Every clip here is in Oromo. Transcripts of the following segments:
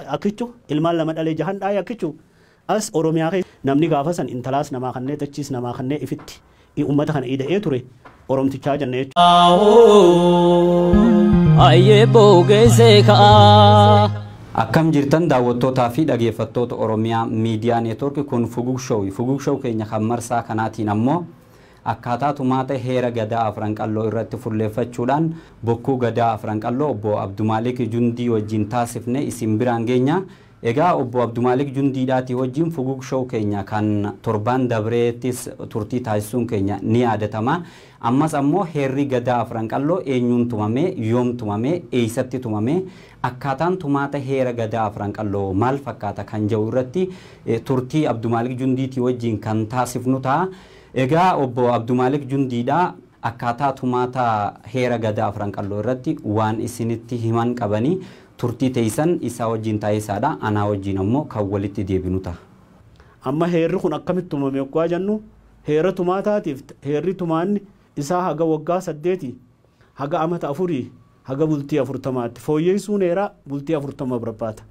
Akkichu ilmaan lama dhalee jahan dhaay akkichu as oromiyaa keessa namni gaafa san intalaas namaa kannee dachiis namaa kannee ifitti i ummata kana ida'ee ture oromtichaa janna jechu. Ayyee boogeessee ka'aa. Akkam jirtan daawwattootaa fi dhageeffattoota Oromiyaa Miidiyaa Neetwoorki kun Fugug Show. Fugug Show keenya kan marsaa kanaatiin ammoo Akkaataa tumaata heera Gadaa Afran Qalloo irratti fulleeffachuudhaan Bokkuu Gadaa Afran Qalloo Obbo Abdumaalik Jundii wajjin taasifne isin biraan geenya. Egaa Obbo Abdumaalik Jundiidhaatii wajjin Fugug Show keenya kan torbaan dabreettis turtii taasisuun keenya ni yaadatama. Ammas ammoo heerri Gadaa Afran Qalloo eenyuun tumame, yoom tumame, eessatti tumame, akkaataan tumaata heera Gadaa Afran Qalloo maal fakkaata kan jedhu irratti turtii Abdumaalik Jundiitii wajjin kan taasifnu ta'a. Egaa Obbo Abdumaalik Jundiidha. Akkaataa tumaata heera Gadaa Afran Qalloo irratti waan isinitti himan qabani. Turtii teessan isaa wajjiin taaisaadha. Anaa wajjiin ammoo kan walitti deebinu taha. Amma heerri kun akkamitti tumame oggaa jannu, heera tumaataatiif heerri tumaanni isaa haga waggaa saddeetii haga amata afurii haga bultii afurtamaatti. Fooyyeessuun heeraa bultii afurtama barbaada.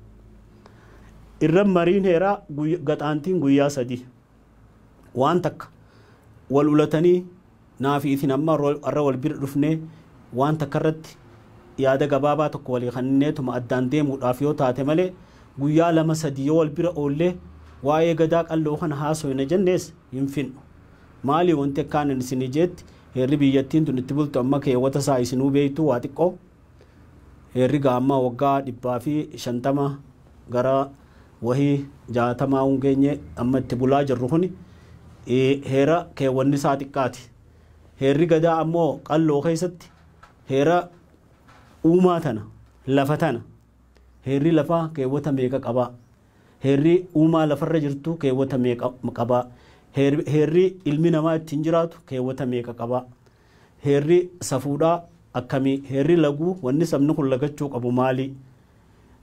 Irra mariin heeraa gaxaantiin guyyaa sadii. waan takka wal ulatanii naafi isin amma arra wal bira dhufnee waan takka irratti yaada gabaabaa tokko walii kanneetuma addaan deemuudhaaf yoo taate malee guyyaa lama sadii yoo wal bira oollee waa'ee gadaa qalloo kana haasoyna jennees hin finnu. Maali wanti akkaanan isinii jeetti heerri biyyattiin tun itti bultu amma keewwata isaa isinuu beektuu waa xiqqoo Heerri gaamma waggaa dhibbaa fi shantama gara wahii jaatamaa un geenye amma itti bulaa jirru kuni heera keewwanni isaa xiqqaati. Heerri gadaa ammoo qalloo keessatti heera uumaa tana, lafa tana. Heerri lafaa keewwata meeqa qaba? Heerri uumaa lafarra jirtu keewwata meeqa qaba? Heerri ilmi namaa ittiin jiraatu keewwata meeqa qaba? Heerri safuudhaa akkamii? Heerri laguu wanni sabni kun lagachuu qabu maalii?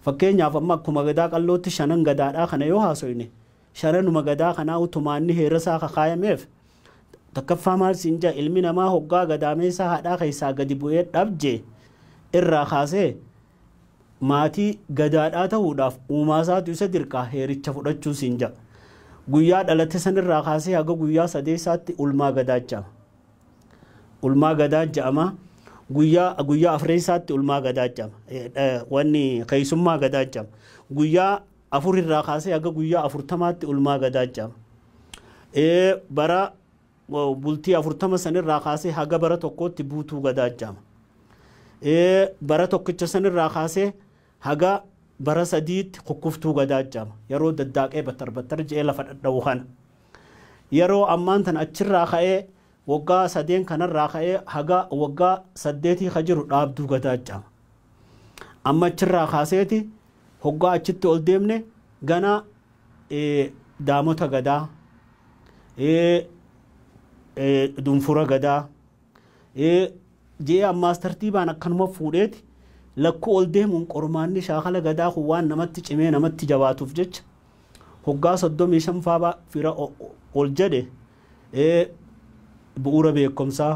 Fakkeenyaaf amma akkuma Gadaa Qallootti shanan Gadaadhaa kana yoo haasoyne, shananuma Gadaa kanaa utumaa inni heerasaa kakaayameef, takkaffaa maal siin ja'a ilmi namaa hoggaa gadaameessaa haadhaa keessaa gadi bu'ee dhab jee irraa kaasee maatii Gadaadhaa tahuudhaaf uumaasaatu isa dirqaa heericha fudhachuu siin ja'a. Guyyaa dhalate sanirraa kaasee haga guyyaa sadeessaatti ulmaa Gadaachama. Ulmaa Gadaa ja'ama. Guyyaa guyyaa afreensaatti ulmaa gadaa ja'ama. Wanni keessummaa gadaa ja'ama. Guyyaa afur irraa kaasee haga guyyaa afurtamaatti ulmaa gadaa ja'ama. Bara bultii afurtama sanirraa kaasee haga bara tokkootti buutuu gadaa ja'ama. Bara tokkicha sanirraa kaasee Haga bara sadiitti kukkuftuu gadaa jedhama. Yeroo daddaaqee battar battar jedhee lafa dhadha'u kana. Yeroo ammaan tana achirraa ka'ee waggaa sadeen kanarraa ka'ee haga waggaa saddeetii ka jiru dhaabduu gadaa jedhama. Amma achirraa kaaseeti hoggaa achitti ol deemne ganaa daamota gadaa, dunfura gadaa, ee je'ee ammaas tartiibaan akkanuma fuudheeti lakkuu ol deemuun qormaanni shaakala gadaa kun waan namatti cimee namatti jabaatuuf jecha hoggaa 35 faa fira ol jedhe ee bu'uura beekkomsaa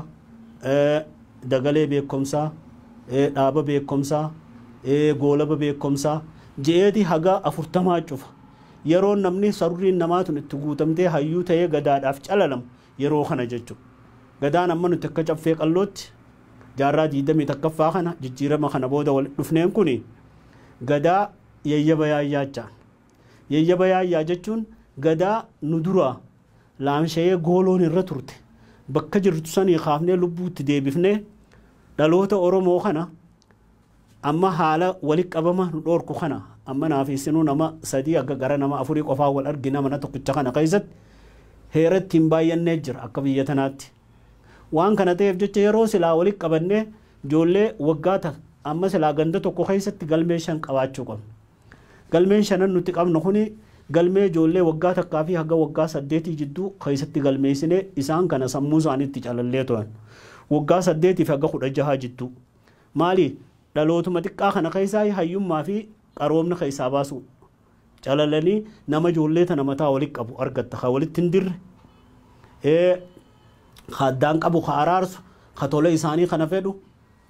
ee dagalee beekkomsaa ee dhaaba beekkomsaa ee goolaba beekkomsaa je'eeti haga 40 cufa yeroon namni saruriin namaa tun itti guutamtee hayyuu ta'ee gadaadhaaf calalamu Yeroo kana jechu. Gadaan amma nuti akka Caffee Qallootti jaarraa 21ffaa kana jijjiirama kana booda walitti dhufneen kun Gadaa Yayyaba Yaayyaachaan. Yayyaba Yaayyaa jechuun Gadaa nu duraa laamshayee gooloon irra turte bakka jirtu sanii kaafnee lubbuu itti deebifnee dhaloota Oromoo kana Amma haala wali qabama nu dhoorku kana amma naa fi isinuu nama sadii hagga gara nama afurii qofaa wal argina mana tokkicha kana keessatti heera ittiin baayyannee jira akka biyya tanaatti. Waan kana ta'eef jecha yeroo silaa wali qabannee ijoollee waggaa ta, amma silaa ganda tokko keessatti galmee shan qabaachuu qabna. Galmeen shanan nuti qabnu kuni galmee ijoollee waggaa takkaa fi haga waggaa saddeetii jidduu keessatti galmeessinee isaan kana sammuu isaaniitti calallee turan. Waggaa saddeetii fi haga kudha jahaa jidduu. Maali? Dhalootuma xiqqaa kana keessaa hayyummaa fi qaroomna keessaa baasuu. Calalanii nama ijoollee tana mataa walitti qabu argatta. Ka walitti hin dirre, ka addaan qabu, ka araarsu, ka tola isaanii kana fedhu,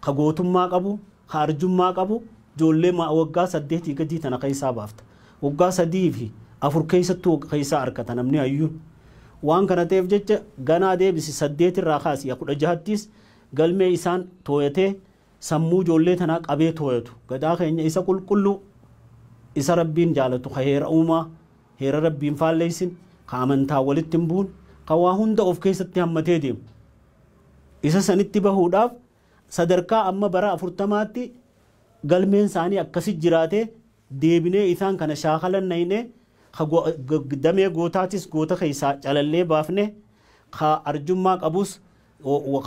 ka gootummaa qabu, ka arjummaa qabu ijoollee waggaa saddeetii gadii tana keessaa baafta. Waggaa sadii fi afur keessattuu keessaa argata namni hayyuun. Waan kana ta'eef jecha ganaa deebisi saddeet irraa kaasi kudha jahattis Galmee isaan tooyatee sammuu ijoollee tanaa qabee tooyatu Gadaa keenya isa qulqulluu isa Rabbiin jaalatu ka heera uumaa heera Rabbii hin faalleessin ka amantaan walitti hin buune ka waa hunda of keessatti hammatee deemu isa sanitti bahuudhaaf sadarkaa amma bara 40tti galmeen isaanii akkasi jiraatee deebinee isaan kana shaakalan nayne, ka damee gootaatis goota keessaa calallee baafne, ka arjummaa qabus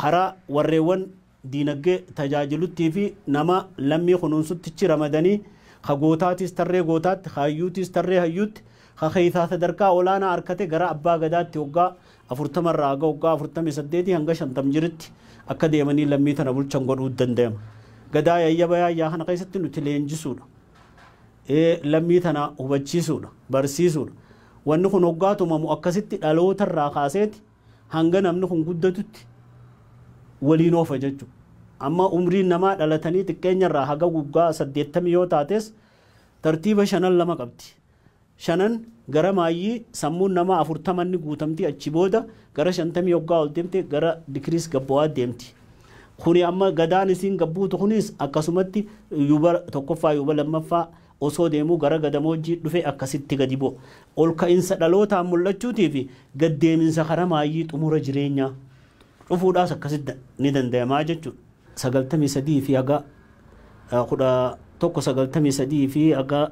karaa warreewwan diinaggee tajaajiluttii fi nama lammii kunuunsuttichi ramadanii, ka gootaatis tarree gootaatti, ka hayyuutis tarree hayyuutti, ka keessaa sadarkaa olaanaa arkate gara Abbaa Gadaatti hoggaa 40 irraa haga waggaa 48 hanga 50 jiritti akka deemanii lammii tana bulchan godhuu dandayama. Gadaa yayyaba yaayyaa kana keessatti nuti leenjisuudha. Lammii tana hubachiisuudha, barsiisuudha. Wanni kun hoggaa tumamu akkasitti dhaloota irraa kaaseeti hanga namni kun guddatutti waliin oofa jechuudha. Amma umriin namaa dhalatanii xiqqeenya irraa haga waggaa 80 yoo taates tartiiba shanan lama qabdi. shanan gara maayyii sammuun namaa 40 nni guutamti achi booda gara 50 hoggaa ol demte gara dikiriis gabbawaa deemti kuni amma gadaan isiin gabbuutu kuniis akkasumatti yuba 1ffaa yuba 2ffaa osoo deemuu gara gadamoojjii dhufe akkasitti gadi bu'a ol ka'insa dhalootaan mul'achuutii fi gad deeminsa kara maayyii xumura jireenyaa dhufuudhaas akkasitti ni dandayamaa jechuudha. 93 fi haga 11 93 fi haga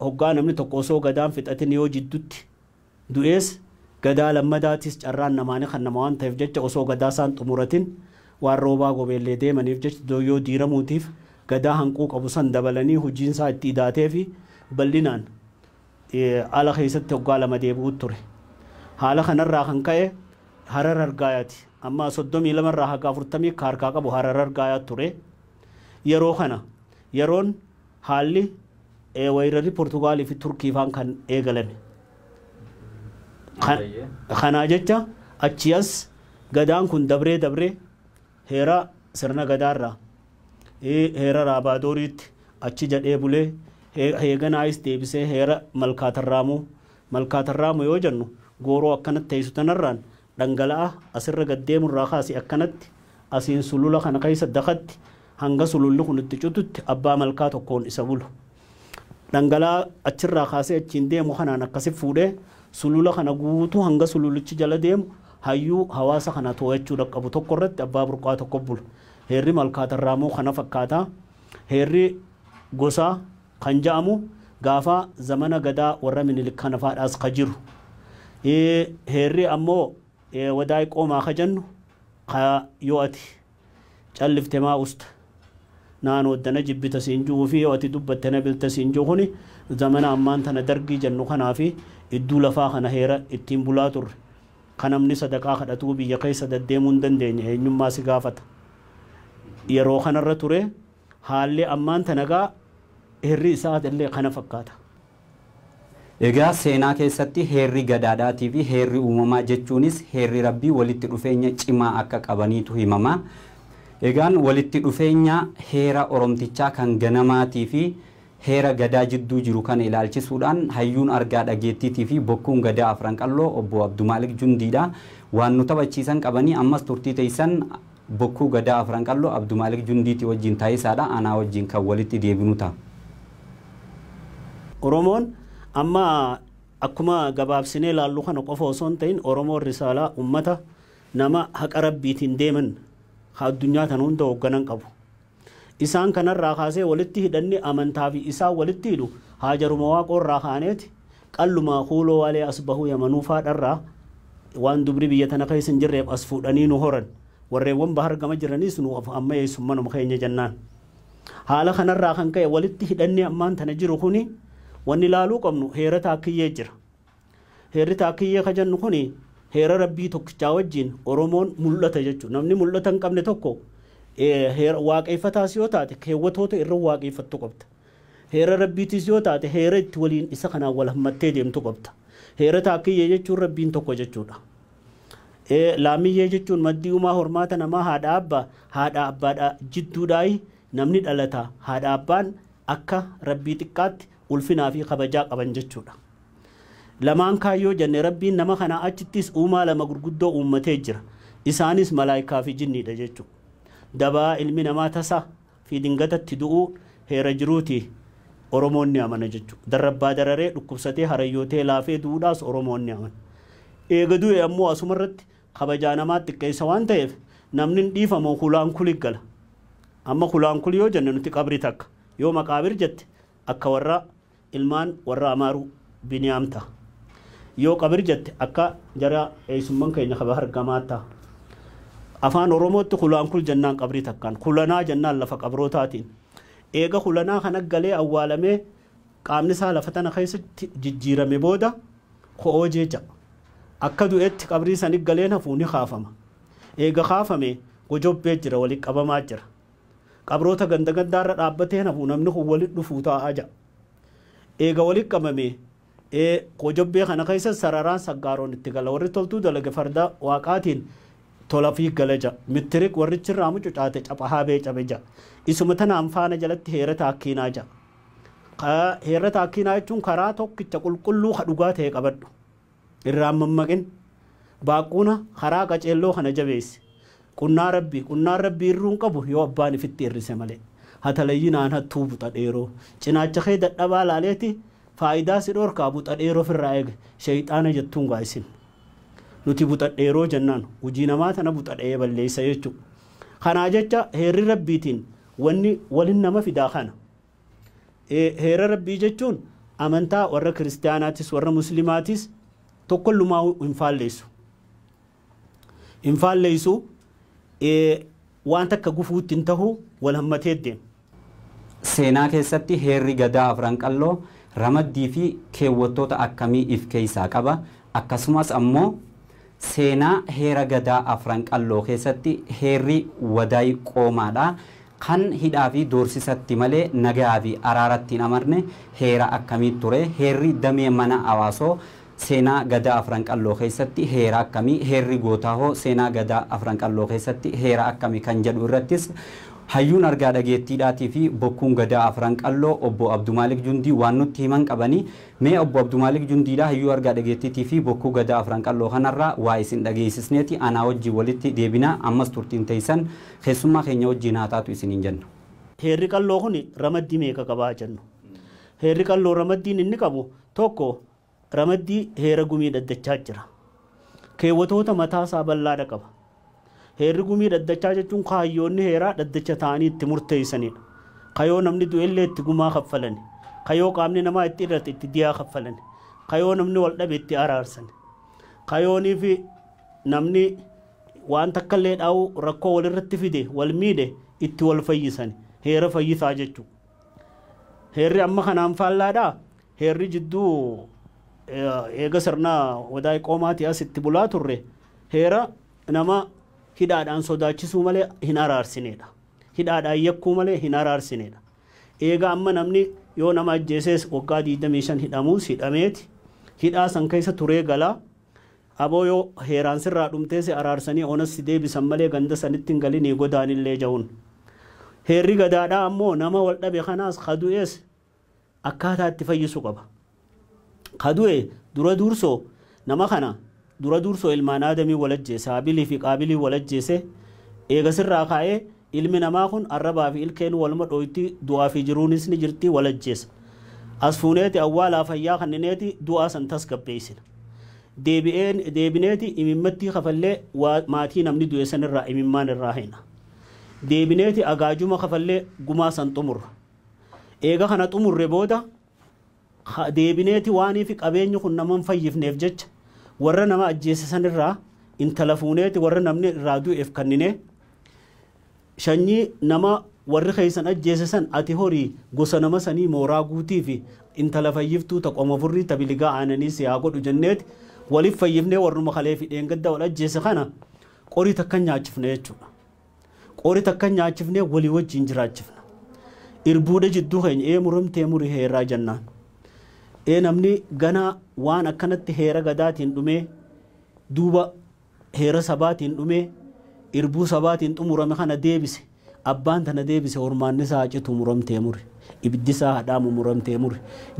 Hoggaa namni tokko osoo Gadaan fixatin yoo jiddutti du'ees Gadaa lammadaatiis carraan namaa ni kannama waan taheef jecha osoo Gadaa isaan xumuratin waan Roobaa Gobeellee deemaniif jecha Dooyyoo diiramuutiif Gadaa hanquu qabu san dabalanii hujiin isaa itti idaatee fi bal'inaan ala keessatti hoggaa lama deebi'uutti ture. Haala kana irraa kan ka'e Harar Argaayati. Amma 32 irraa haga 40 ka harkaa qabu Harar Argaayaatti ture. Yeroo kana yeroon Haalli weerarri Portugaal fi Turkii faan kan eegalame. Kanaa jecha achii as Gadaan kun dabree dabree heera sirna Gadaa irraa heera Raabaadooriitti achi jedhee bulee heeganaayis deebisee heera Malkaa Tarraamuu Malkaa Tarraamuu yoo jennu gooroo akkanatti teessu tanarraan dhangala'aa asirra gad deemu irraa kaasi akkanatti asiin sulula kana keessa dakatti hanga sululli kun itti cututti abbaa malkaa tokkoon isa bulu. Dhangala'aa achirraa kaasee achiin deemu kanaan akkasi fuudhee sulula kana guutuu hanga sululichi jala deemu hayyuu hawaasa kana too'achuu dhaqqabu tokko irratti abbaa burqaa tokko bulu. Heerri malkaa tarraamoo kana fakkaata. Heerri gosaa kan ja'amu gaafa zamana gadaa warra minilik kana faadhaas ka jiru heerri ammoo wadaay qoomaa ka jannu ka yoo ati callifte maa usta naa noodda na jibbita siin ju'uu fi yoo ati dubbatte na bilta siin ju'u kuni zamana ammaan tana dargii jannu kanaa fi idduu lafaa kana heera ittiin bulaa turre ka namni sadaqaa kadhatuu biyya keessa daddeemuu hin dandeenye eenyummaa si gaafata yeroo kanarra ture Haalli ammaan tana egaa heerri isaa illee kana fakkaata. Egaa seenaa keessatti heerri Gadaadhaatii fi heerri uumamaa jechuunis heerri Rabbii walitti dhufeenya cimaa akka qabaniitu himama. Egaan walitti dhufeenya heera Oromtichaa kan ganamaatii fi Heera Gadaa jidduu jiru kana ilaalchisuudhaan hayyuun argaa dhageettiitii fi bokkuun Gadaa Afran Qalloo Obbo Abdumaalik Jundii dha. Waan nu taphachiisan qabanii ammas turtii teessan Bokkuu Gadaa Afran Qalloo Abdumaalik Jundiitii wajjin taasisaa dha. Anaa wajjin kan walitti deebinu ta'a. Oromoon amma akkuma gabaabsinee ilaallu kana qofa osoo hin ta'in Oromoon Risaalaa, ummata, nama haqa Rabbiitiin deeman ka addunyaa tana hunda hoogganan qabu. Isaan kana irraa kaasee walitti hidhanni amantaa fi isaan walitti hidhu Haajaruma Waaqoo irraa kaaneeti, Qallumaa Kuuloo Waalee Asbahuu Yamanuu faa dharraa waan dubri biyya tana keessa hin jirreef as fuudhanii nu horan. Warreewwan Bahar gama jiraniis nu of ammayeessu manuma keenya jennaan. Haala kana irraa kan ka'e walitti hidhanni ammaan tana jiru kuni wanni laaluu qabnu heera Taakkiyyee jira. Heerri Taakkiyyee ka jennu kuni heera Rabbii tokkichaa wajjiin Oromoon mul'ata jechu. Namni mul'ata hin qabne tokko heera Waaqeeffataas yoo taate keewwatoota irra Waaqeeffattu qabda. Heera Rabbiitiis yoo taate heera itti waliin isa kanaan wal hammattee deemtu qabda. Heera Taakkiyyee jechuun Rabbiin tokko jechuudha. Laamiyyee jechuun maddii umaa hormaata namaa haadha abba haadha abbaadha jidduudhaayi namni dhalata haadha abbaan akka Rabbii xiqqaatti ulfinaa fi kabajaa qaban jechuudha. Lamaan kaan yoo jenne Rabbiin nama kanaa achittis uumaa lama gurguddoo uummatee jira. Isaanis malaaykaa fi jinniidha jechuudha. Dabaa ilmi namaa tasa fi dingatatti du'uu heera jiruuti Oromoon ni amana jechuudha. Darrabbaa dararee, dhukkubsatee, harayyootee, laafee du'uudhaas Oromoon ni amana. Eega du'e ammoo asumarratti kabajaa namaa xiqqeessa waan ta'eef namni hin dhiifamu hulaan kuli gala. Amma hulaan kuli yoo jenne nuti qabri takka yoo maqaabir jette akka warra ilmaan warra Amaaruu Biniyaam ta. Yoo qabir jette akka jara eeysumman keenya ka bahar gamaa ta. Afaan Oromootti kulaan kul jennaan qabrii takkaan, kulanaa jennaan lafa qabrootaatiin. Eega kulanaa kana galee awwaalamee qaamni isaa lafa tana keeysatti jijjiirame booda ko'oojee ja. Akka du'etti qabrii sani galeen hafuu ni kaafama. Eega kaafamee gojobbee jira wali qabamaa jira. Qabroota ganda gandaarra dhaabbatee hin hafu namni kun walitti dhufuu taa'aa ja'a. Eega walitti qabamee ee Koojobbee kana keessas sararaan saggaaroon itti gala. Warri toltuu dalage farda Waaqaatiin tolafii gala ja'a. Mittirik warrichi irraa mucucaate capha haabee cabe ja'a. Isuma tanaan faana jalatti heera taakkiinaa ja'a. Ka heerra taakkiinaa jechuun karaa tokkicha qulqulluu ka dhugaa ta'e qabadhu. Irraa hin mammaqin. Baaqquuna karaa qaceelloo kana jabeessi. Qunnaa Rabbii, qunnaan Rabbii irruu hin qabu yoo abbaan ifitti irrise malee. Hatalayyinaan hattuu buxa dheeroo. Cinaacha kee dadhabaa laaleeti faayidaa si dhorkaa buxa dheeroo firraa eegi. Sheyxaana jettuun gaa isin. Nuti buxa dheeroo jennaan hujii namaa tana buxa dhayee balleessa jechuu. Kanaa jecha heerri Rabbiitiin wanni wal hin nama fidaa kana. Ee, heera Rabbii jechuun amantaa warra Kiristiyaanaatis warra Muslimaatis tokkollumaahuu hin faalleessu. Hin faalleessu, ee, waan takka gufuutti hin tahu, wal hammatee deema. Seenaa keessatti heerri Gadaa Afran Qalloo ramaddii fi keewwattoota akkamii if keessaa qaba? Akkasumas ammoo. Seenaa heera Gadaa Afran Qalloo keessatti heerri Wadaay Qoomaadha. Kan hidhaafi doorsisatti malee nagayaafi araaratti hin amarne heera akkamii ture? Heerri damee mana Hawaasoo seenaa Gadaa Afran Qalloo keessatti heera akkami? Heerri Gootaahoo seenaa Gadaa Afran Qalloo keessatti heera akkami? kan jedhu irrattis hayyuun argaa dhageettiidhaatiifi bokkuun Gadaa Afran Qalloo Obbo Abdumaalik Jundii waan nutti himan qabani. Mee Obbo Abdumaalik Jundiidhaa Hayyuu Argaa Dhageettiitii fi Bokkuu Gadaa Afran Qalloo kanarraa waa isin dhageessisneeti anaa wajjin walitti deebina ammas turtiin teessan keessummaa keenya wajjin haa taatu isiniin jenna. Heerri Qalloo kun ramaddii meeqa qaba haa jennu. Heerri Qalloo ramaddiin inni qabu tokko ramaddii heera gumii dhaddachaa jira. Keewwatoota mataa isaa bal'aadha qaba. Heerri gumii dhaddachaa jechuun kaayyoonni heeraa dhaddacha taa'anii itti murteessanidha. Ka yoo namni du'ellee itti gumaa kaffalani. Ka yoo qaamni namaa itti irrate itti diyaa kaffalani. Ka yoo namni wal dhabe itti araarsani. Ka yooniifi namni waan takkallee dhaa'uu rakkoo walirratti fide wal miidhe itti wal fayyisani. Heera fayyisaa jechuudha. Heerri amma kanaan faallaadhaa? Heerri jidduu eega sirna Odaa Iqoomaatii as itti bulaa turre heera nama hidhaadhaan sodaachisuu malee hin araarsineedha. Hidhaadhaan yakkuu malee hin araarsineedha. Eega amma namni yoo nama ajjeesees waggaa 25 hidhamuus hidhameeti hidhaa san keessa turee galaa Aboo yoo heeraan sirraa dhumtee si araarsanii onas si deebisan malee ganda sanitti hin galinii godaanillee ja'uun. Heerri gadaadhaa ammoo nama wal dhabe kanaas ka du'ees akkaataa itti fayyisu qaba. Ka du'e dura duursoo nama kana dura duursoo ilmaan Aadamii wal ajjeese Haabilii fi Qaabiliin wal ajjeese eega sirraa kaa'ee Ilmi namaa kun arrabaa fi ilkeenuu waluma dhooyti, du'aa fi jiruunis ni jirti, wal ajjeesa. As fuuneeti awwaalaa fayyaa kannineeti du'aa san tasgabbeeysina. Deebi'een, deebineeti imimmattii kafallee waa maatii namni du'e san irraa imimmaan irraa heyna. Deebineeti agaajuma kafallee gumaa san xumurra. Eega kana xumurre booda Haa deebineeti waaniifi qabeenyi kun nama hin fayyifneef jecha warra nama ajjeese san irraa intala fuuneeti warra namni irraa du'eef kanninee, Shanyii nama warri keessan ajjeese san ati horii gosa nama sanii mooraa guutiifi intala fayyiftuu ta qoma furrii ta biligaa aananii si haa godhu jenneeti waliif fayyifnee warruma kaleefi dheengadda wal ajjeese kana qorii takka hin nyaachifne jechuudha. Qori takka hin nyaachifne walii wajjiin jiraachifna. Irbuuda jidduu keenya ee muramtee muri heeraa jannaan. Ee namni ganaa waan akkanatti heera gadaatiin dhumee duuba heera sabaatiin dhumee irbuu sabaatiin xumurame kana deebise abbaan tana deebise hormaanni isaa haa citu muramtee muri ibiddi isaa haa dhaamu muramtee muri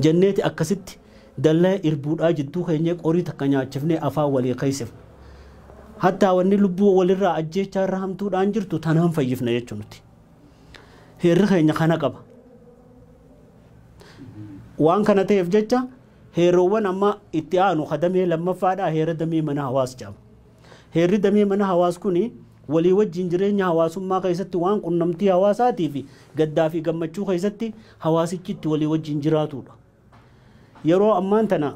jenneeti akkasitti Dallee irbuudhaa jidduu keenyee qorii takka nyaachifnee afaan walii keeysifna. Hattaa wanni lubbuu walirraa ajjeechaa irra hamtuudhaan jirtu tanaan fayyifna jechu nuti. Heerri keenya kana qaba. Waan kana ta'eef jecha heeroowwan amma itti aanu ka damee lammaffaadhaa heera damee mana hawaas jedhama. Heerri damee mana hawaas kuni walii wajjin jireenya hawaasummaa keessatti waan qunnamtii hawaasaatii fi gaddaa fi gammachuu keessatti hawaasichi itti walii wajjin jiraatuudha. Yeroo ammaan tana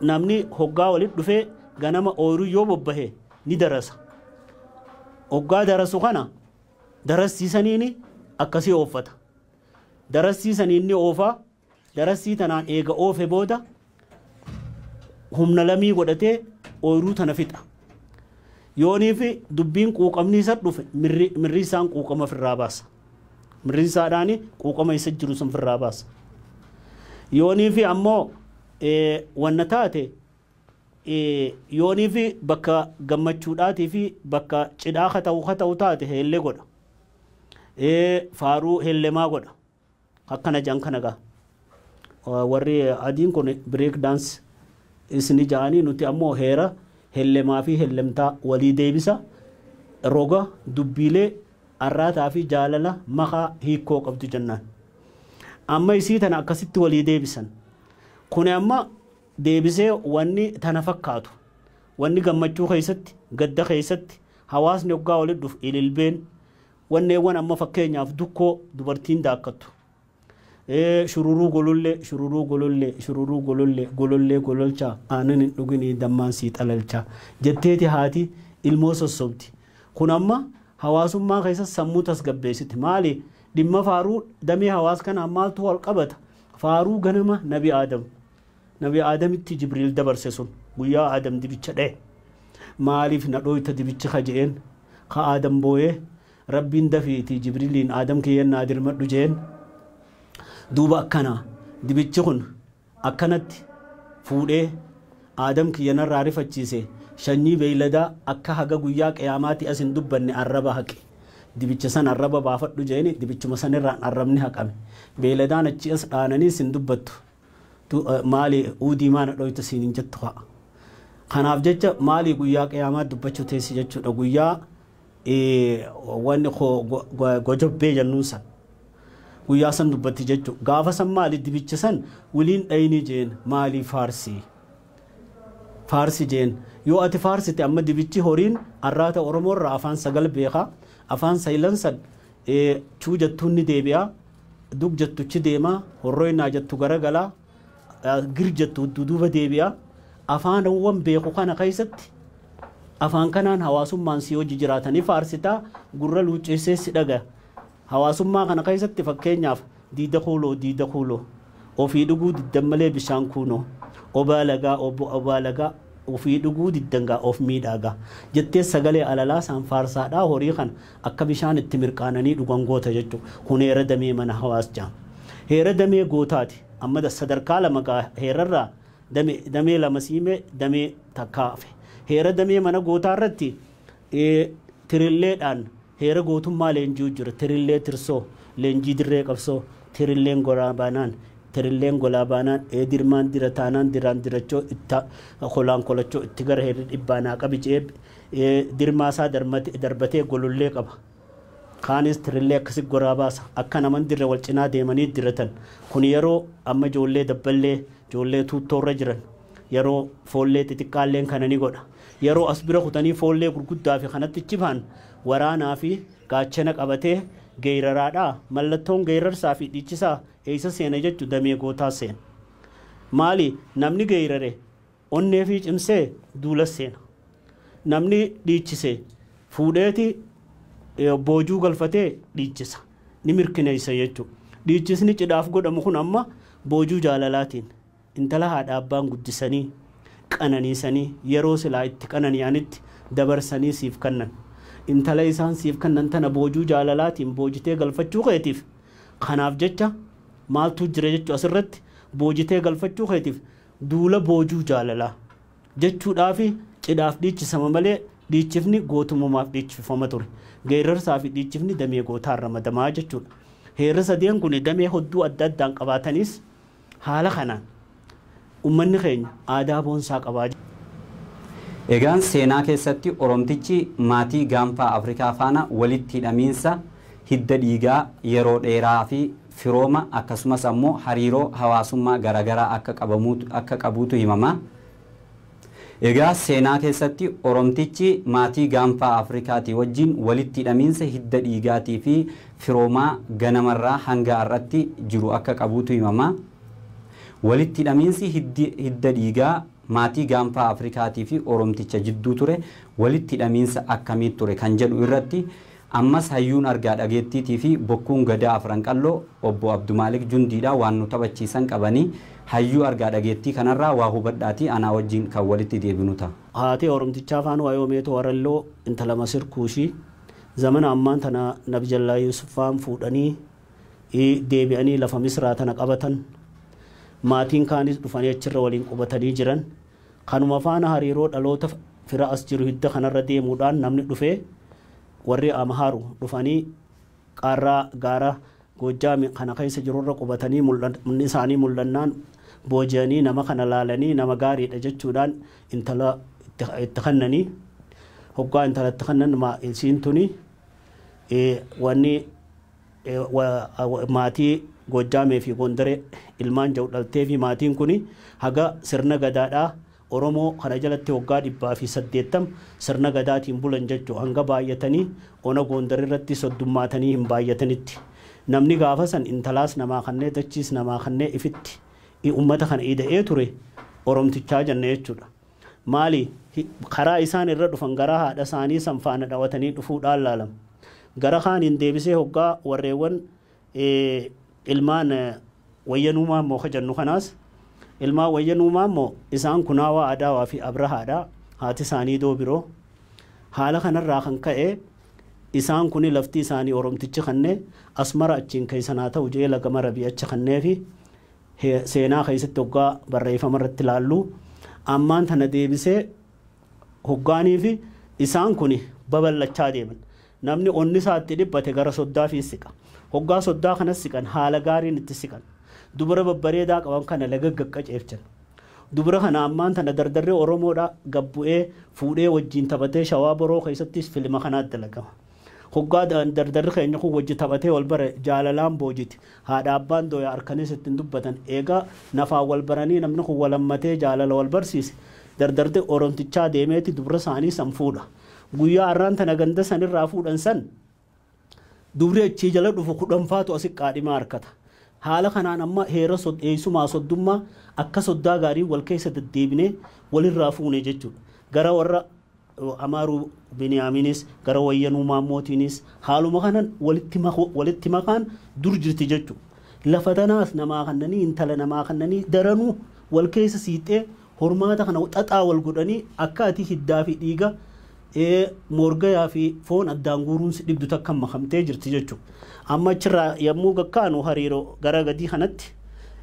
namni hoggaa walitti dhufee ganama ooyiruu yoo bobbahe ni darasa. Hoggaa darasu kana darassii saniin akkasii ooffata. Darassii saniin ni oofa. Darassii tanaan eega oofe booda humna lamii godhatee ooyruu tana fixa. Yooniif dubbiin quuqamni isa dhufe mirri isaan quuqama firraa baasa. Mirri isaadhaan quuqama isa jiru sun firraa baasa. Yooniif ammoo wanna taate yooniif bakka gammachuudhaatii fi bakka cidhaa kata'u kata'u taate heellee godha. Faaruu heellemaa godha. Akkana ja'an kana gaa. Warri adiin kun break dance is ni ja'anii nuti ammoo heera hellemaa fi hellemtaa walii deebisa roga dubbiilee arraataa fi jaalala makaa hiikkoo qabdu jennaan. Amma isii tana akkasitti walii deebisan. Kuni amma deebisee wanni tana fakkaatu. Wanni gammachuu keessatti, gadda keessatti, hawaasni hoggaa walitti dhufu ililbeen, Wanneewwan amma fakkeenyaaf dukkoo dubartiin daakkattu, shururuu golollee, shururuu golollee, shururuu golollee, golollee gololchaa, aanan hin dhuginii dammaan sii xalalchaa jetteeti haati ilmoo sossobdi. Kun amma hawaasummaa keessatti sammuu tasgabbeessiti. Maali? Dhimma faaruu damee hawaas kanaan maaltu wal qabata? Faaruu ganama Nabi Aadam. Nabi Aadamitti Jibriil dabarse sun guyyaa Aadam dibicha dhaye maaliif na dhooyta dibichi ka je'een ka Aadam booyee Rabbiin dafiitii Jibriliin Aadam kiyya naa dirmadhu je'een duuba akkana dibichi kun akkanatti fuudhee Aadam kiyya narraa rifachiise shanyii beeyladaa akka haga guyyaa qiyaamaatii as hin dubbanne arraba haqi dibicha san arraba baafadhu je'een dibichuma sanirraan arrabni haqame beeyladaan achii as dhaananiis hin dubbattu Maali uudii maa na dhooyta siin hin jettu kaa. Kanaaf jecha maali guyyaa qiyaamaa dubbachuu teessi jechuudha guyyaa wanni gojobbee jennuun san. Guyyaa san dubbatti jechuudha. Gaafa san maali dibicha san wiliin dhayinii jeen maali faarsi. Faarsi jeen yoo ati faarsite amma dibichi horiin arraata Oromoo irraa afaan sagal beeka afaan saylan san chuu jettuun ni deebi'a. Dug jettu ch deema, horroi naa jettu garagala, gir jettu duduuba deebi'a. Afaanawwan beeku kana keessatti afaan kanaan hawaasummaan sii wajji jiraata ni faarsita, gurra luucceessees si dhagaya. Hawaasummaa kana keessatti fakkeenyaaf, diida kuuloo, diida kuuloo, ofii dhuguu diddan malee bishaan kuunoo, obaa lagaa, ob, obaa lagaa, ofii dhuguu diddan gaa of miidhaa gaa. Jettees sagalee alalaasaan faarsaadhaa horii kana. Akka bishaan itti mirqaananii dhugan goota jechuudha. Kun heera damee mana hawaas jedhama. Heera damee gootaati. Amma sadarkaa lama gaa heerarraa dame, damee lama siime damee takkaa hafe. Heera damee mana gootaa irratti ee, tirilleedhaan heera gootummaa leenji'u jira. Tirillee tirsoo, leenjii dirree qabsoo, tirilleen golaa baanaan, tirilleen golaa baanaan, ee dirmaan dira taanaan diraan dirachoo, itta kolaan kolachoo, itti gara heerri dhibbaa naa qabi je'ee Dirmaasaa darbatee golollee qaba. Kaanis tirrillee akkasi goraa baasa. Akka naman dirre wal cinaa deemanii diratan. Kun yeroo amma ijoollee dabballee, ijoollee tuuttoorra jiran, yeroo foollee xixiqqaalleen kana ni godha. Yeroo as bira kutanii foollee gurguddaafi kanatti ciphaan waraanaafi gaachana qabatee geyraraadha. Mallattoon geyrrarsaafi dhiichisaa eessa seena jettu damee gootaa seena. Maali namni geyrare Onnee fi cimsee duulas seena. Namni dhiichise fuudheeti boojuu galfatee dhiichisa. Ni mirkineessa jechuu. Dhiichisni cidhaaf godhamu kun amma boojuu jaalalaatiin intala haadha abbaan guddisanii, qananiisanii, yeroo silaa itti qanani'anitti dabarsanii siif kannan. Intala isaan siif kannan tana boojuu jaalalaatiin boojitee galfachuu keetiif kanaaf jecha maaltuu jira jechuu asirratti boojitee galfachuu keetiif Duula boojuu jaalalaa. Jechuudhaafi cidhaaf dhiichisama malee dhiichifni gootummumaaf dhiichifama ture. Geerarsaafi dhiichifni damee gootaan ramadama jechuudha. Heerri sadeen kun damee hodduu adda addaan qabaatanis haala kanaan ummanni keenya aadaa boonsaa qaba. Egaan seenaa keessatti Oromtichi maatii gaanfaa Afrikaa faana walitti hidhamiinsa hidda dhiigaa yeroo dheeraafi firooma akkasumas ammoo hariiroo hawaasummaa garaagaraa akka qabamuutu akka qabuutu himama. Egaa seenaa keessatti Oromtichi maatii gaanfaa Afrikaatii wajjin walitti hidhamiinsa hidda dhiigaatii fi firoomaa ganamarraa hanga har'atti jiru akka qabuutu himama. Walitti hidhamiinsi hiddi hidda dhiigaa maatii gaanfaa Afrikaatii fi Oromticha jidduu ture walitti hidhamiinsa akkamii ture kan jedhu irratti Ammas hayyuun argaa dhageettiitii fi bokkuun Gadaa Afran Qalloo Obbo Abdumaalik Jundiidha waan nu taphachiisan qabanii hayyuu argaa dhageettii kanarraa waa hubadhaatii anaa wajjin kan walitti deebinu ta'a. Haatee Oromtichaa Faan Waayoo Meetoo Waralloo intala Masir Kuushii zamana ammaan tana Nabjallaa Yuusuf faan fuudhanii deebi'anii lafa Misraa tana qabatan. Maatiin kaanis dhufanii achirra waliin qubatanii jiran. Kanuma faana hariiroo dhaloota fira as jiru hidda kanarra deemuudhaan namni dhufee warri Amhaaru dhufanii qaarraa gaara Goojjaami kana keessa jirurra qubatanii mul'anni isaanii mul'annaan booji'anii nama kana laalanii nama gaariidha jechuudhaan intala itti kennanii hoggaa intala itti kennan isiin tuni wanni maatii Goojjaamee fi Gondaree ilmaan ja'u dhalteefi maatiin kuni haga sirna Gadaadhaa Oromoo kana jalatti waggaa 180 sirna Gadaatiin bulan jachu hanga baay'atanii ona Goondar irratti soddummaatanii hin baay'atanitti. Namni gaafa san intalaas namaa kannee dachiis namaa kannee ifitti i ummata kana ida'ee ture Oromtichaa janna jechuudha. Maali? Karaa isaan irra dhufan garaa haadha isaanii san faana dhawatanii dhufuudhaan laalam. Gara kaaniin deebisee hoggaa warreewwan ilmaan Wayyanuu Maammoo ka jennu kanaas ilmaan Wayyanuu Maammoo isaan Kunaawaa Adaawaa fi Abrahaadha. Haati isaanii Doobiroo. Haala kanarraa kan ka'e isaan kuni lafti isaanii Oromtichi kanne Asmara achiin keessan haa ta'u je'ee laga Marabii achi kanneefi. Seenaa keessatti hoggaa barreeffama irratti ilaallu ammaan tana deebisee hoggaaniifi isaan kun babal'achaa deeman. Namni onni isaa itti dhiphate gara soddaatiin siqa. Hoggaa soddaa kanas siqan haala gaariin itti siqan. Dubra babbareedaa qaban kana laga gaqqaceelchan. Dubra kana ammaan tana dardarri Oromoodhaa gad bu'ee fuudhee wajjiin taphatee Shawaa Boroo keessattis filima kanaa dalagama. Hoggaa da- dardarri keenya kun wajji taphatee wal bare jaalalaan boojiti. Haadha abbaan dooya arkaniis itti hin dubbatan. Eega nafaan wal baranii namni kun wal hammatee jaalala wal barsiise dardarri Oromtichaa deemeeti dubra isaanii san fuudha. Guyyaa arraan tana ganda san irraa fuudhan san dubri achii jala dhufu kudhanfaatu asi qaadhimaa harkata. Haala kanaan amma heera sod- eessumaa soddummaa akka soddaa gaarii wal keessa deddeebinee walirraa fuune jechuudha. Gara warra Amaaruu Biniyaamiinis gara Wayyanuu Maammootiinis haaluma kanan walitti maku walitti makaan dur jirti jechu. Lafa tanaas namaa kannanii intala namaa kannanii daranuu wal keessa siixxee hormaata kana xaxaa wal godhanii akka ati hiddaa fi dhiiga ee moorgayaa fi foon addaan guuruun si dhibdu takkan makamtee jirti jechu. Amma achirraa yammuu gakkaanu hariiroo gara gadii kanatti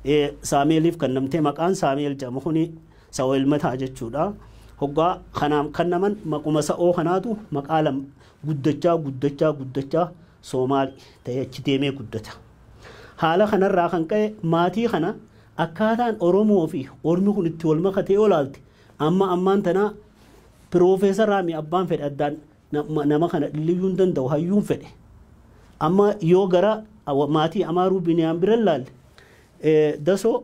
ee Saameeliif kannamtee maqaan Saameel jedhamu kuni Sa'oo ilma ta'a jechuudha. Hoggaa kanaaf kannaman maquma sa'oo kanaatu maqaa lama guddachaa guddachaa guddachaa Soomaali ta'ee achi deemee guddata. Haala kanarraa kan ka'e maatii kana akkaataan Oromoo fi Ormi kun itti wal makate yoo ilaalte amma ammaan tanaa piroofeesaraa mi abbaan fedhe addaan nama kana dhilliyyuu hin danda'u hayyuun fedhe. Amma yoo gara maatii Amaaruu Biniyaam bira ilaalle dasoo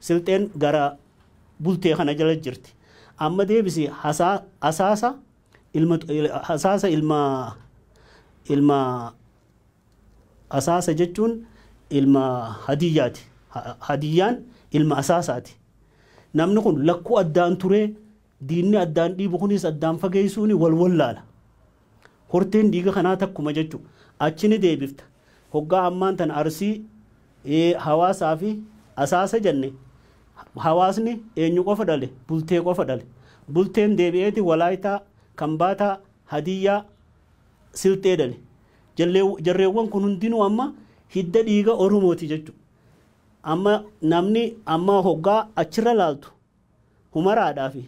silxeen gara bultee kana jala jirti amma deebisi hasaa hasaasa ilma hasaasa ilma ilma hasaasa jechuun ilma hadiyyaati Ha- hadiyyaan ilma hasaasaati namni kun lakkuu addaan turee diinni addaan dhiibu kunis addaan fageessuuni wal wallaala Horteen dhiiga kanaa takkuma jechu. Achi ni deebifta. Hoggaa ammaan tana Arsii hawaasaa fi Asaasa janne hawaasni eenyu qofa dhale? Bultee qofa dhale. Bulteen deebi'eeti Walaaytaa, Kambaataa, Hadiyyaa, Silxee dhale. Jarreewwan kun hundinuu amma hidda dhiiga Oromooti jechu. Amma namni amma hoggaa achirra laaltu Humaraadhaa fi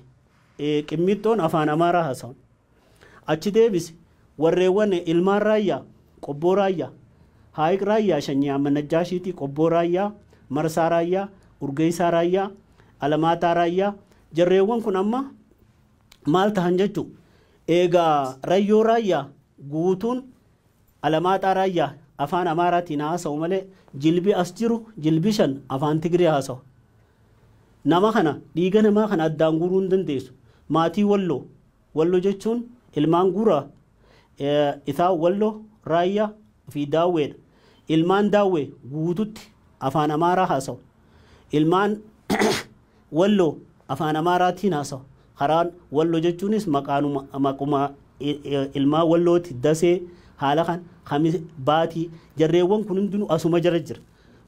Qimmiixxoon Afaan Amaaraa haasawan. Achi deebisi warreewwan Ilmaan Raayyaa, Qobboo Raayyaa, Haayiq Raayyaa Shanyii Ahmad Najjaashiitii, Qobboo Raayyaa, Marsaa Raayyaa, Urgeessaa Raayyaa, Alamaaxaa Raayyaa, jarreewwan kun amma maal tahan jechuu? Eegaa Rayyoo Raayyaa guutuun Alamaaxaa Raayyaa Afaan Amaaraatiin haa haasa'u malee jilbi as jiru jilbi shan Afaan Tigree haasawa. Nama kana dhiiga namaa kana addaan guuruu hin dandeessu. Maatii Walloo Wallo jechuun ilmaan Guuraa, Isaa Walloo, Raayyaa fi Daawwee dha. Ilmaan Daawwee guututti Afaan Amaaraa haasawa. Ilmaan Wallo, Afaan Amaaraatiin haasawa. Karaan Wallo jechuunis maqaanuma maquma ilmaan Wallooti, Dasee, haala kan, Kamis, Baatii. Jarreewwan kun hundinuu asuma jala jira.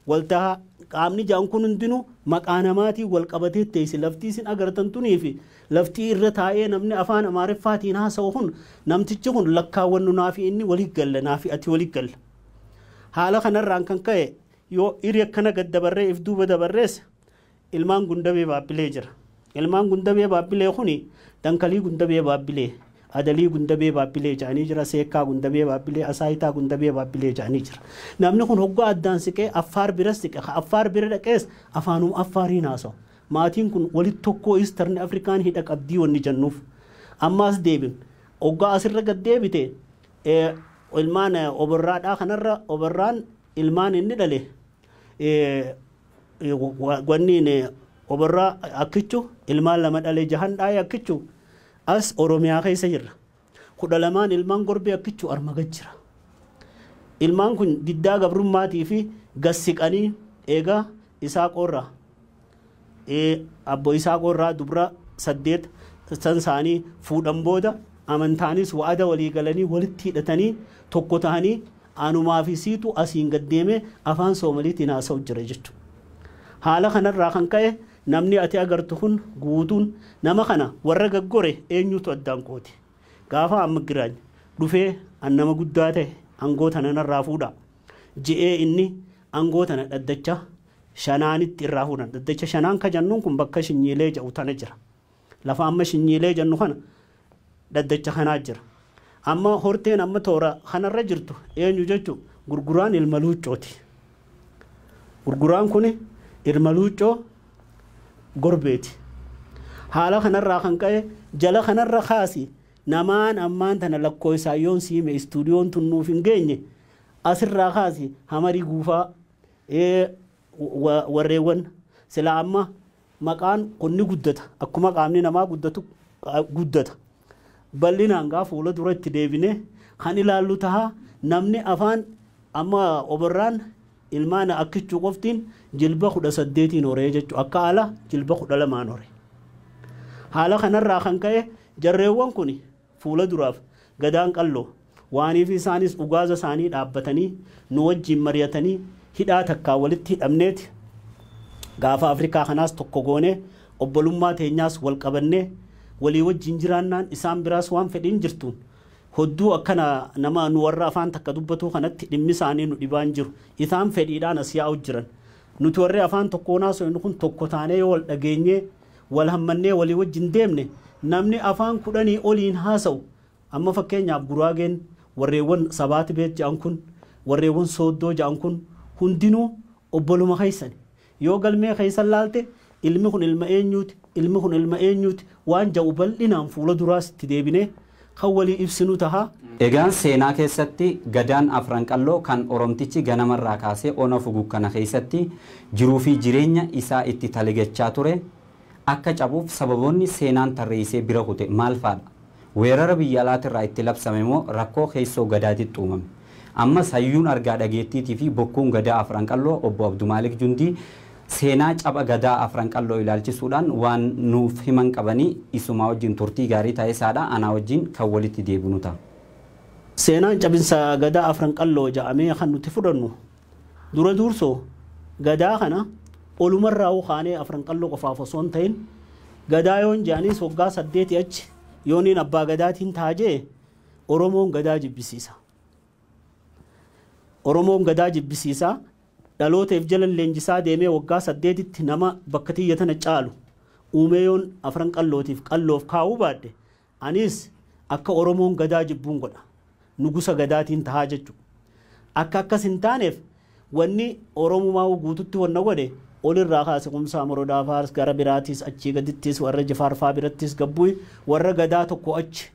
Waltahaa, qaamni ja'an kun hundinuu maqaa namaatiin walqabatee teessi. Laftii isin agartan tuniifi laftii irra taa'ee namni Afaan Amaariffaatiin haasawu kun namtichi kun lakkaawwannu naafi inni wali galla, naafi ati wali galla. Haala kanarraan kan ka'e yoo iri akkana gad dabarree if duuba dabarrees Ilmaan Gundabee Baabbilee jira. Ilmaan Gundabee Baabbilee kuni Dankalii Gundabee Baabbilee, Adalii Gundabee Baabbilee ja'anii jira, Seekkaa Gundabee Baabbilee, Asaayitaa Gundabee Baabbilee ja'anii jira. Namni kun hoggaa addaan siqee Affaar biras siqe, ka Affaar bira dhaqees afaanuma Affaariin haasawa. Maatiin kun walitti tokkoo Eastern African hidha qabdii wanni jannuuf. Ammaas deebin. Hoggaa asirra gad deebite ilmaan Oborraadhaa kanarra Oborraan ilmaan inni dhale wanniin oborraa akkichu ilmaan lama dhalee jahan dhaa'ee akkichu as oromiyaa keessa jirra kudha lamaan ilmaan gorbee akkichu arma gad jira ilmaan kun diddaa gabrummaatii fi gassiqanii eegaa isaa qorraa abbo isaa qorraa dubra saddeet san isaanii fuudhan booda amantaanis wa'ada walii galanii walitti hidhatanii tokko ta'anii Anumaa fi siitu asiin gad deemee afaan Soomaliitiin haasa'u jira jechu. Haala kanarraa kan ka'e namni ati agartu kun guutuun nama kana warra gaggore eenyuutu addaan qoode? Gaafa amma Giraany dhufee an nama guddaa ta'e angoo tana narraa fuudhaa je'ee inni angoo tana dhaddacha shanaanitti irraa fuudhan. Dhaddacha shanaan ka jannuun kun bakka Shinyiilee ja'u tana jira. Lafa amma Shinyiilee jennu kana dhaddacha kanaa jira. Amma horteen amma toora kanarra jirtu eenyu jechuun gurguraan ilma luuccooti. Gurguraan kuni ilma luuccoo gorbeeti. Haala kanarraa kan ka'e jala kanarra kaasi namaan ammaan tana lakkooysaan yoon siime istuudiyoon tun nuuf hin geenye asirraa kaasi hamarii guufaa warreewwan sila amma Maqaan kun ni guddata. Akkuma qaamni namaa guddatu guddata. Bal'inaan gaa fuula dura itti deebinee kan ilaallu taha. Namni afaan amma oborraan ilmaan akkichuu qoftiin jilba kudha saddeetiin horee jechu akka ala jilba kudha lamaan hore. Haala kanarraa kan ka'e jarreewwan kun Fuula duraaf Gadaan Qalloo waaniif isaanis ugaaza isaanii dhaabbatanii nu wajjiin mari'atanii hidhaa takkaan walitti hidhamneeti gaafa Afrikaa kanaas tokko goonee obbolummaa teenyaas wal qabannee walii wajjiin jiraannaan isaan biraas waan fedhiin jirtuun hodduu akkana nama nu warra afaan takka dubbatuu kanatti dhimmi isaanii nu dhibaan jiru. Itaan fedhiidhaan as yaa'u jiran. Nuti warri afaan tokkoon haasoynu kun tokko taanee yoo wal dhageenyee wal hammannee walii wajjin deemne namni afaan kudhanii oliin haasa'u amma fakkeenyaaf Guraageen warreewwan Sabaati Beet ja'an kun warreewwan Sooddoo ja'an kun hundinuu obboluma keessani. Yoo galmee keessan laalte ilmi kun ilma eenyuuti ilmi kun ilma eenyuuti waan ja'u bal'inaan fuula duraas itti deebinee kan walii ibsinu taha. Egaan seenaa keessatti Gadaan Afran Qalloo kan Oromtichi ganama irraa kaasee Ona Fugug kana keessatti jiruu fi jireenya isaa itti taligachaa ture akka cabuuf sababoonni seenaan tarreessee bira kute maal faa dha? Weerara biyya alaati irraa itti labsame moo rakkoo keessoo Gadaatitti uumame? Ammas hayyuun argaa dhageettiitii fi bokkuun Gadaa Afran Qalloo Obbo Abdumaalik Jundii Seenaa Capha Gadaa Afran Qalloo ilaalchisuudhaan waan nuuf himan qabanii isumaa wajjin turtii gaarii taesaadha. Anaa wajjin kan walitti deebinu taa. Seenaan Caphinsa Gadaa Afran Qalloo jaamee kan nuti fudhannu dura duursoo Gadaa kana olumarraahuu kaanee Afran Qalloo qofaaf osoo hin tain Gadaa yoon jeanis waggaa saddeetii achi yooniin Abbaa Gadaatiin taa jee Oromoon Gadaa jibbisiisa. Oromoon Gadaa jibbisiisa Dhaloota if jala leenjisaa deemee waggaa saddeetitti nama bakka tiyya tana caalu uumee yoon Afran Qallootiif Qalloof kaa'uu baadhe anis akka Oromoon Gadaa jibbuun godha. Nugusa Gadaatiin tahaa jechu. Akka akkas hin taaneef wanni Oromumaahuu guututti wanna godhe ol irraa kaase Kumsaa Morodaa faars gara biraatiis achii gadittiis warra Jifaar faa birattiis gabbuy warra Gadaa tokko achi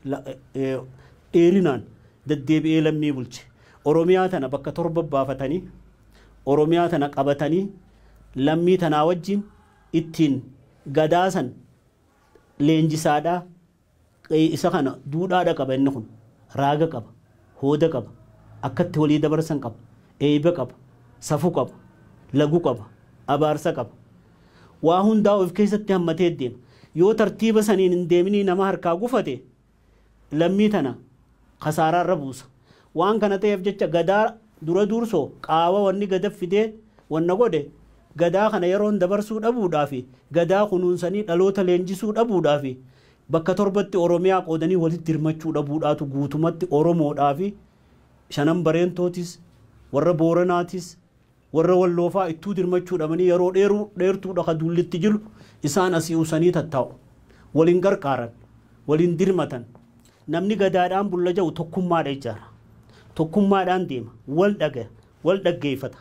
dheerinaan daddeebi'ee lammii bulche. Oromiyaa tana bakka torba baafatanii Oromiyaa tana qabatanii lammii tanaa wajjiin ittiin gadaa san leenjisaadhaa isa kana duudhaadha qaba inni kun raaga qaba hooda qaba akkatti walii dabarsan qaba eeyba qaba safu qaba lagu qaba abaarsa qaba waa hundaa of keessatti hammatee deema yoo tartiiba saniin hin deeminii nama harkaa gufate lammii tana kasaaraa irra buusa. Waan kana ta'eef jecha Gadaa dura duursoo qaawa wanni Gada fidee wanna godhe Gadaa kana yeroon dabarsuu dhabuudhaafi Gadaa kunuunsanii dhaloota leenjisuu dhabuudhaafi bakka torbatti Oromiyaa qoodanii walitti dirmachuu dhabuudhaatu guutumatti Oromoodhaafi Shanan Bareentootis, warra Booranaatis, Warra walloo faa ittuu dirmachuu dhabanii yaroo dheeruu dheertuu dha ka duulli itti jiru, isaan asii usanii tattaa'u. Wal hin gargaaran. Wal hin dirmatan. Namni Gadaadhaan bulla ja'u tokkummaa dha ijaara. Tokkummaadhaan deema. Wal dhagaya. Wal dhaggeeyfata.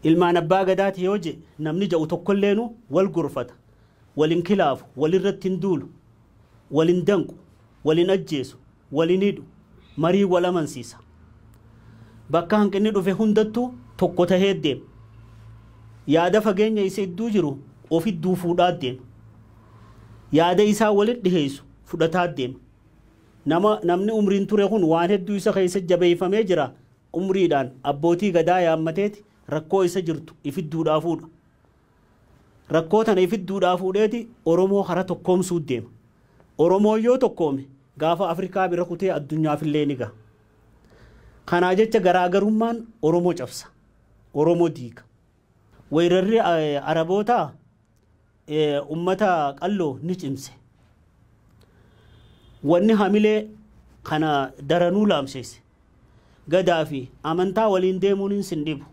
Ilmaan Abbaa Gadaa ti yoo je'e namni ja'u tokkolleenu wal gorfata. Wal hin kilaafu. Wal irratti hin duulu. Wal hin danqu. Wal hin ajjeesu. wal hin hidhu, mariin wal amansiisa. Bakka hanqinni dhufe hundattuu tokko tahee deema. Yaada fageenya isa idduu jiru of idduu fuudhaa deema. Yaada isaa walit dhiheessu fudhataa deema. Nama namni umriin ture kun waan hedduu isa keessa jabeeyfamee jira, umriidhaan abbootii gadaa yaammateeti rakkoo isa jirtu if idduudhaa fuudha. Rakkoo tana ifit duudhaa fuudheeti Oromoo kara tokkoomsuut deema. Oromoon yoo tokkoome gaafa Afrikaa bira kutee addunyaafillee ni gaha. Kanaa jecha garaa garummaan Oromo cabsa. Oromo diiga. Weerarri Arabootaa ummata qalloo ni cimse. Wanni hamilee kana daranuu laamsheesse. Gadaa fi amantaa waliin deemuun sin dhibu.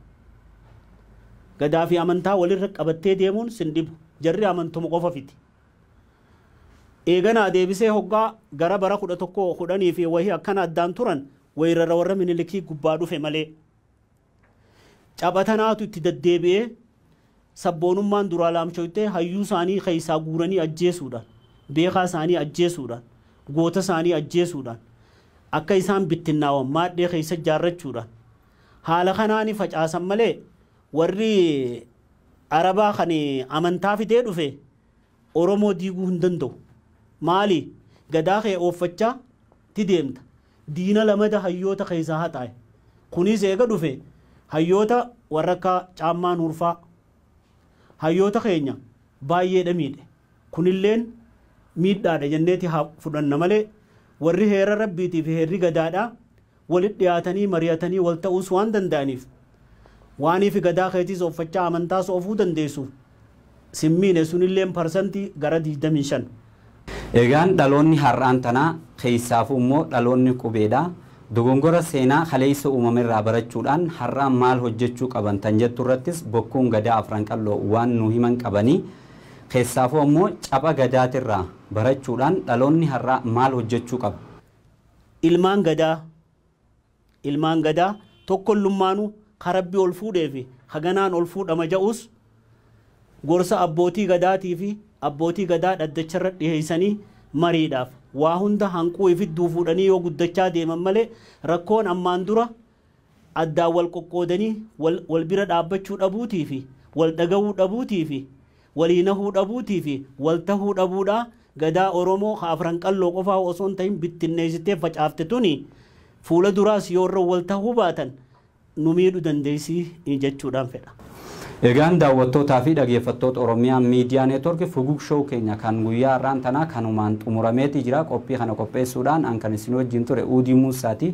Gadaa fi amantaa walirra qabattee deemuun sin dhibu. Jarri amantuma qofa fiti. Eeganaa deebisee hoggaa gara bara 11, 10 fi wahii akkana addaan turan weyrara warra Minilikii gubbaa dhufe malee. Tapha tanaatu itti daddeebi'ee sabboonummaan duraa laamshoytee hayyuu isaanii keessaa guuranii ajjeesuudhaan, beekaa isaanii ajjeesuudhaan, goota isaanii ajjeesuudhaan, akka isaan bittinnaawan maadhee keessa ijaarrachuudhaan haala kanaani facaasan malee warri Arabaa kan amantaa fidee dhufe Oromoo diiguu hin danda'u. Maali? Gadaa kee ooffachaa ti deemta. Diina lamada hayyoota keessaa haxaaye. Kuniis eega dhufe hayyoota warra akka Caammaa Nuur faa hayyoota keenya baayyee dha miidhe. Kunilleen miidhaa dha jennee ti haa fudhanna malee warri heera Rabbiitii fi heerri Gadaa dha, Walit dhiyaatanii mari'atanii wal ta'uus waan danda'aniif waaniifi gadaa keetiis offachaa amantaas ofuu dandeessuuf sin miine sunilleen parsantii gara 25. Egaan dhaloonni har'aan tanaa keessaafuu immoo dhaloonni qubeedha dogongora seenaa kaleessa uumamerraa barachuudhaan har'aa maal hojjechuu qaban tan jettu irrattis bokkuun gadaa afran qal'oo waan nuu himan qabanii keessaafuu ammoo capha gadaatirraa barachuudhaan dhaloonni har'aa maal hojjechuu qaba Ilmaan Gadaa Ilmaan Gadaa tokkollummaanuu ka Rabbi ol fuudhee fi ka ganaan ol fuudhama ja'uus gorsa Abbootii Gadaatii fi Abbootii Gadaa dhaddacha irratti dhiheessanii mariidhaaf waa hunda hanquu ifittuu fuudhanii yoo guddachaa deeman malee rakkoon ammaan dura addaan wal qoqqoodanii wal wal bira dhaabbachuu dhabuutii fi wal dhagahuu dhabuutii fi walii nahuu dhabuutii fi wal tahuu dhabuudha Gadaa Oromoo ka Afran Qalloo qofaa osoo hin tahin bittinneessitee facaafte tuni fuula duraas yoo irra wal tahuu baatan nu miidhu dandeessi jechuudhaan fedha. Egaan daawwattootaa fi dhageeffattoota Oromiyaa Miidiyaa Neetwork Fugug Show keenya kan guyyaa har'aan tanaa kanumaan xumurameetii jira. Qophii kana qopheessuudhaan an kan isin wajjin ture Uudii Muussaati.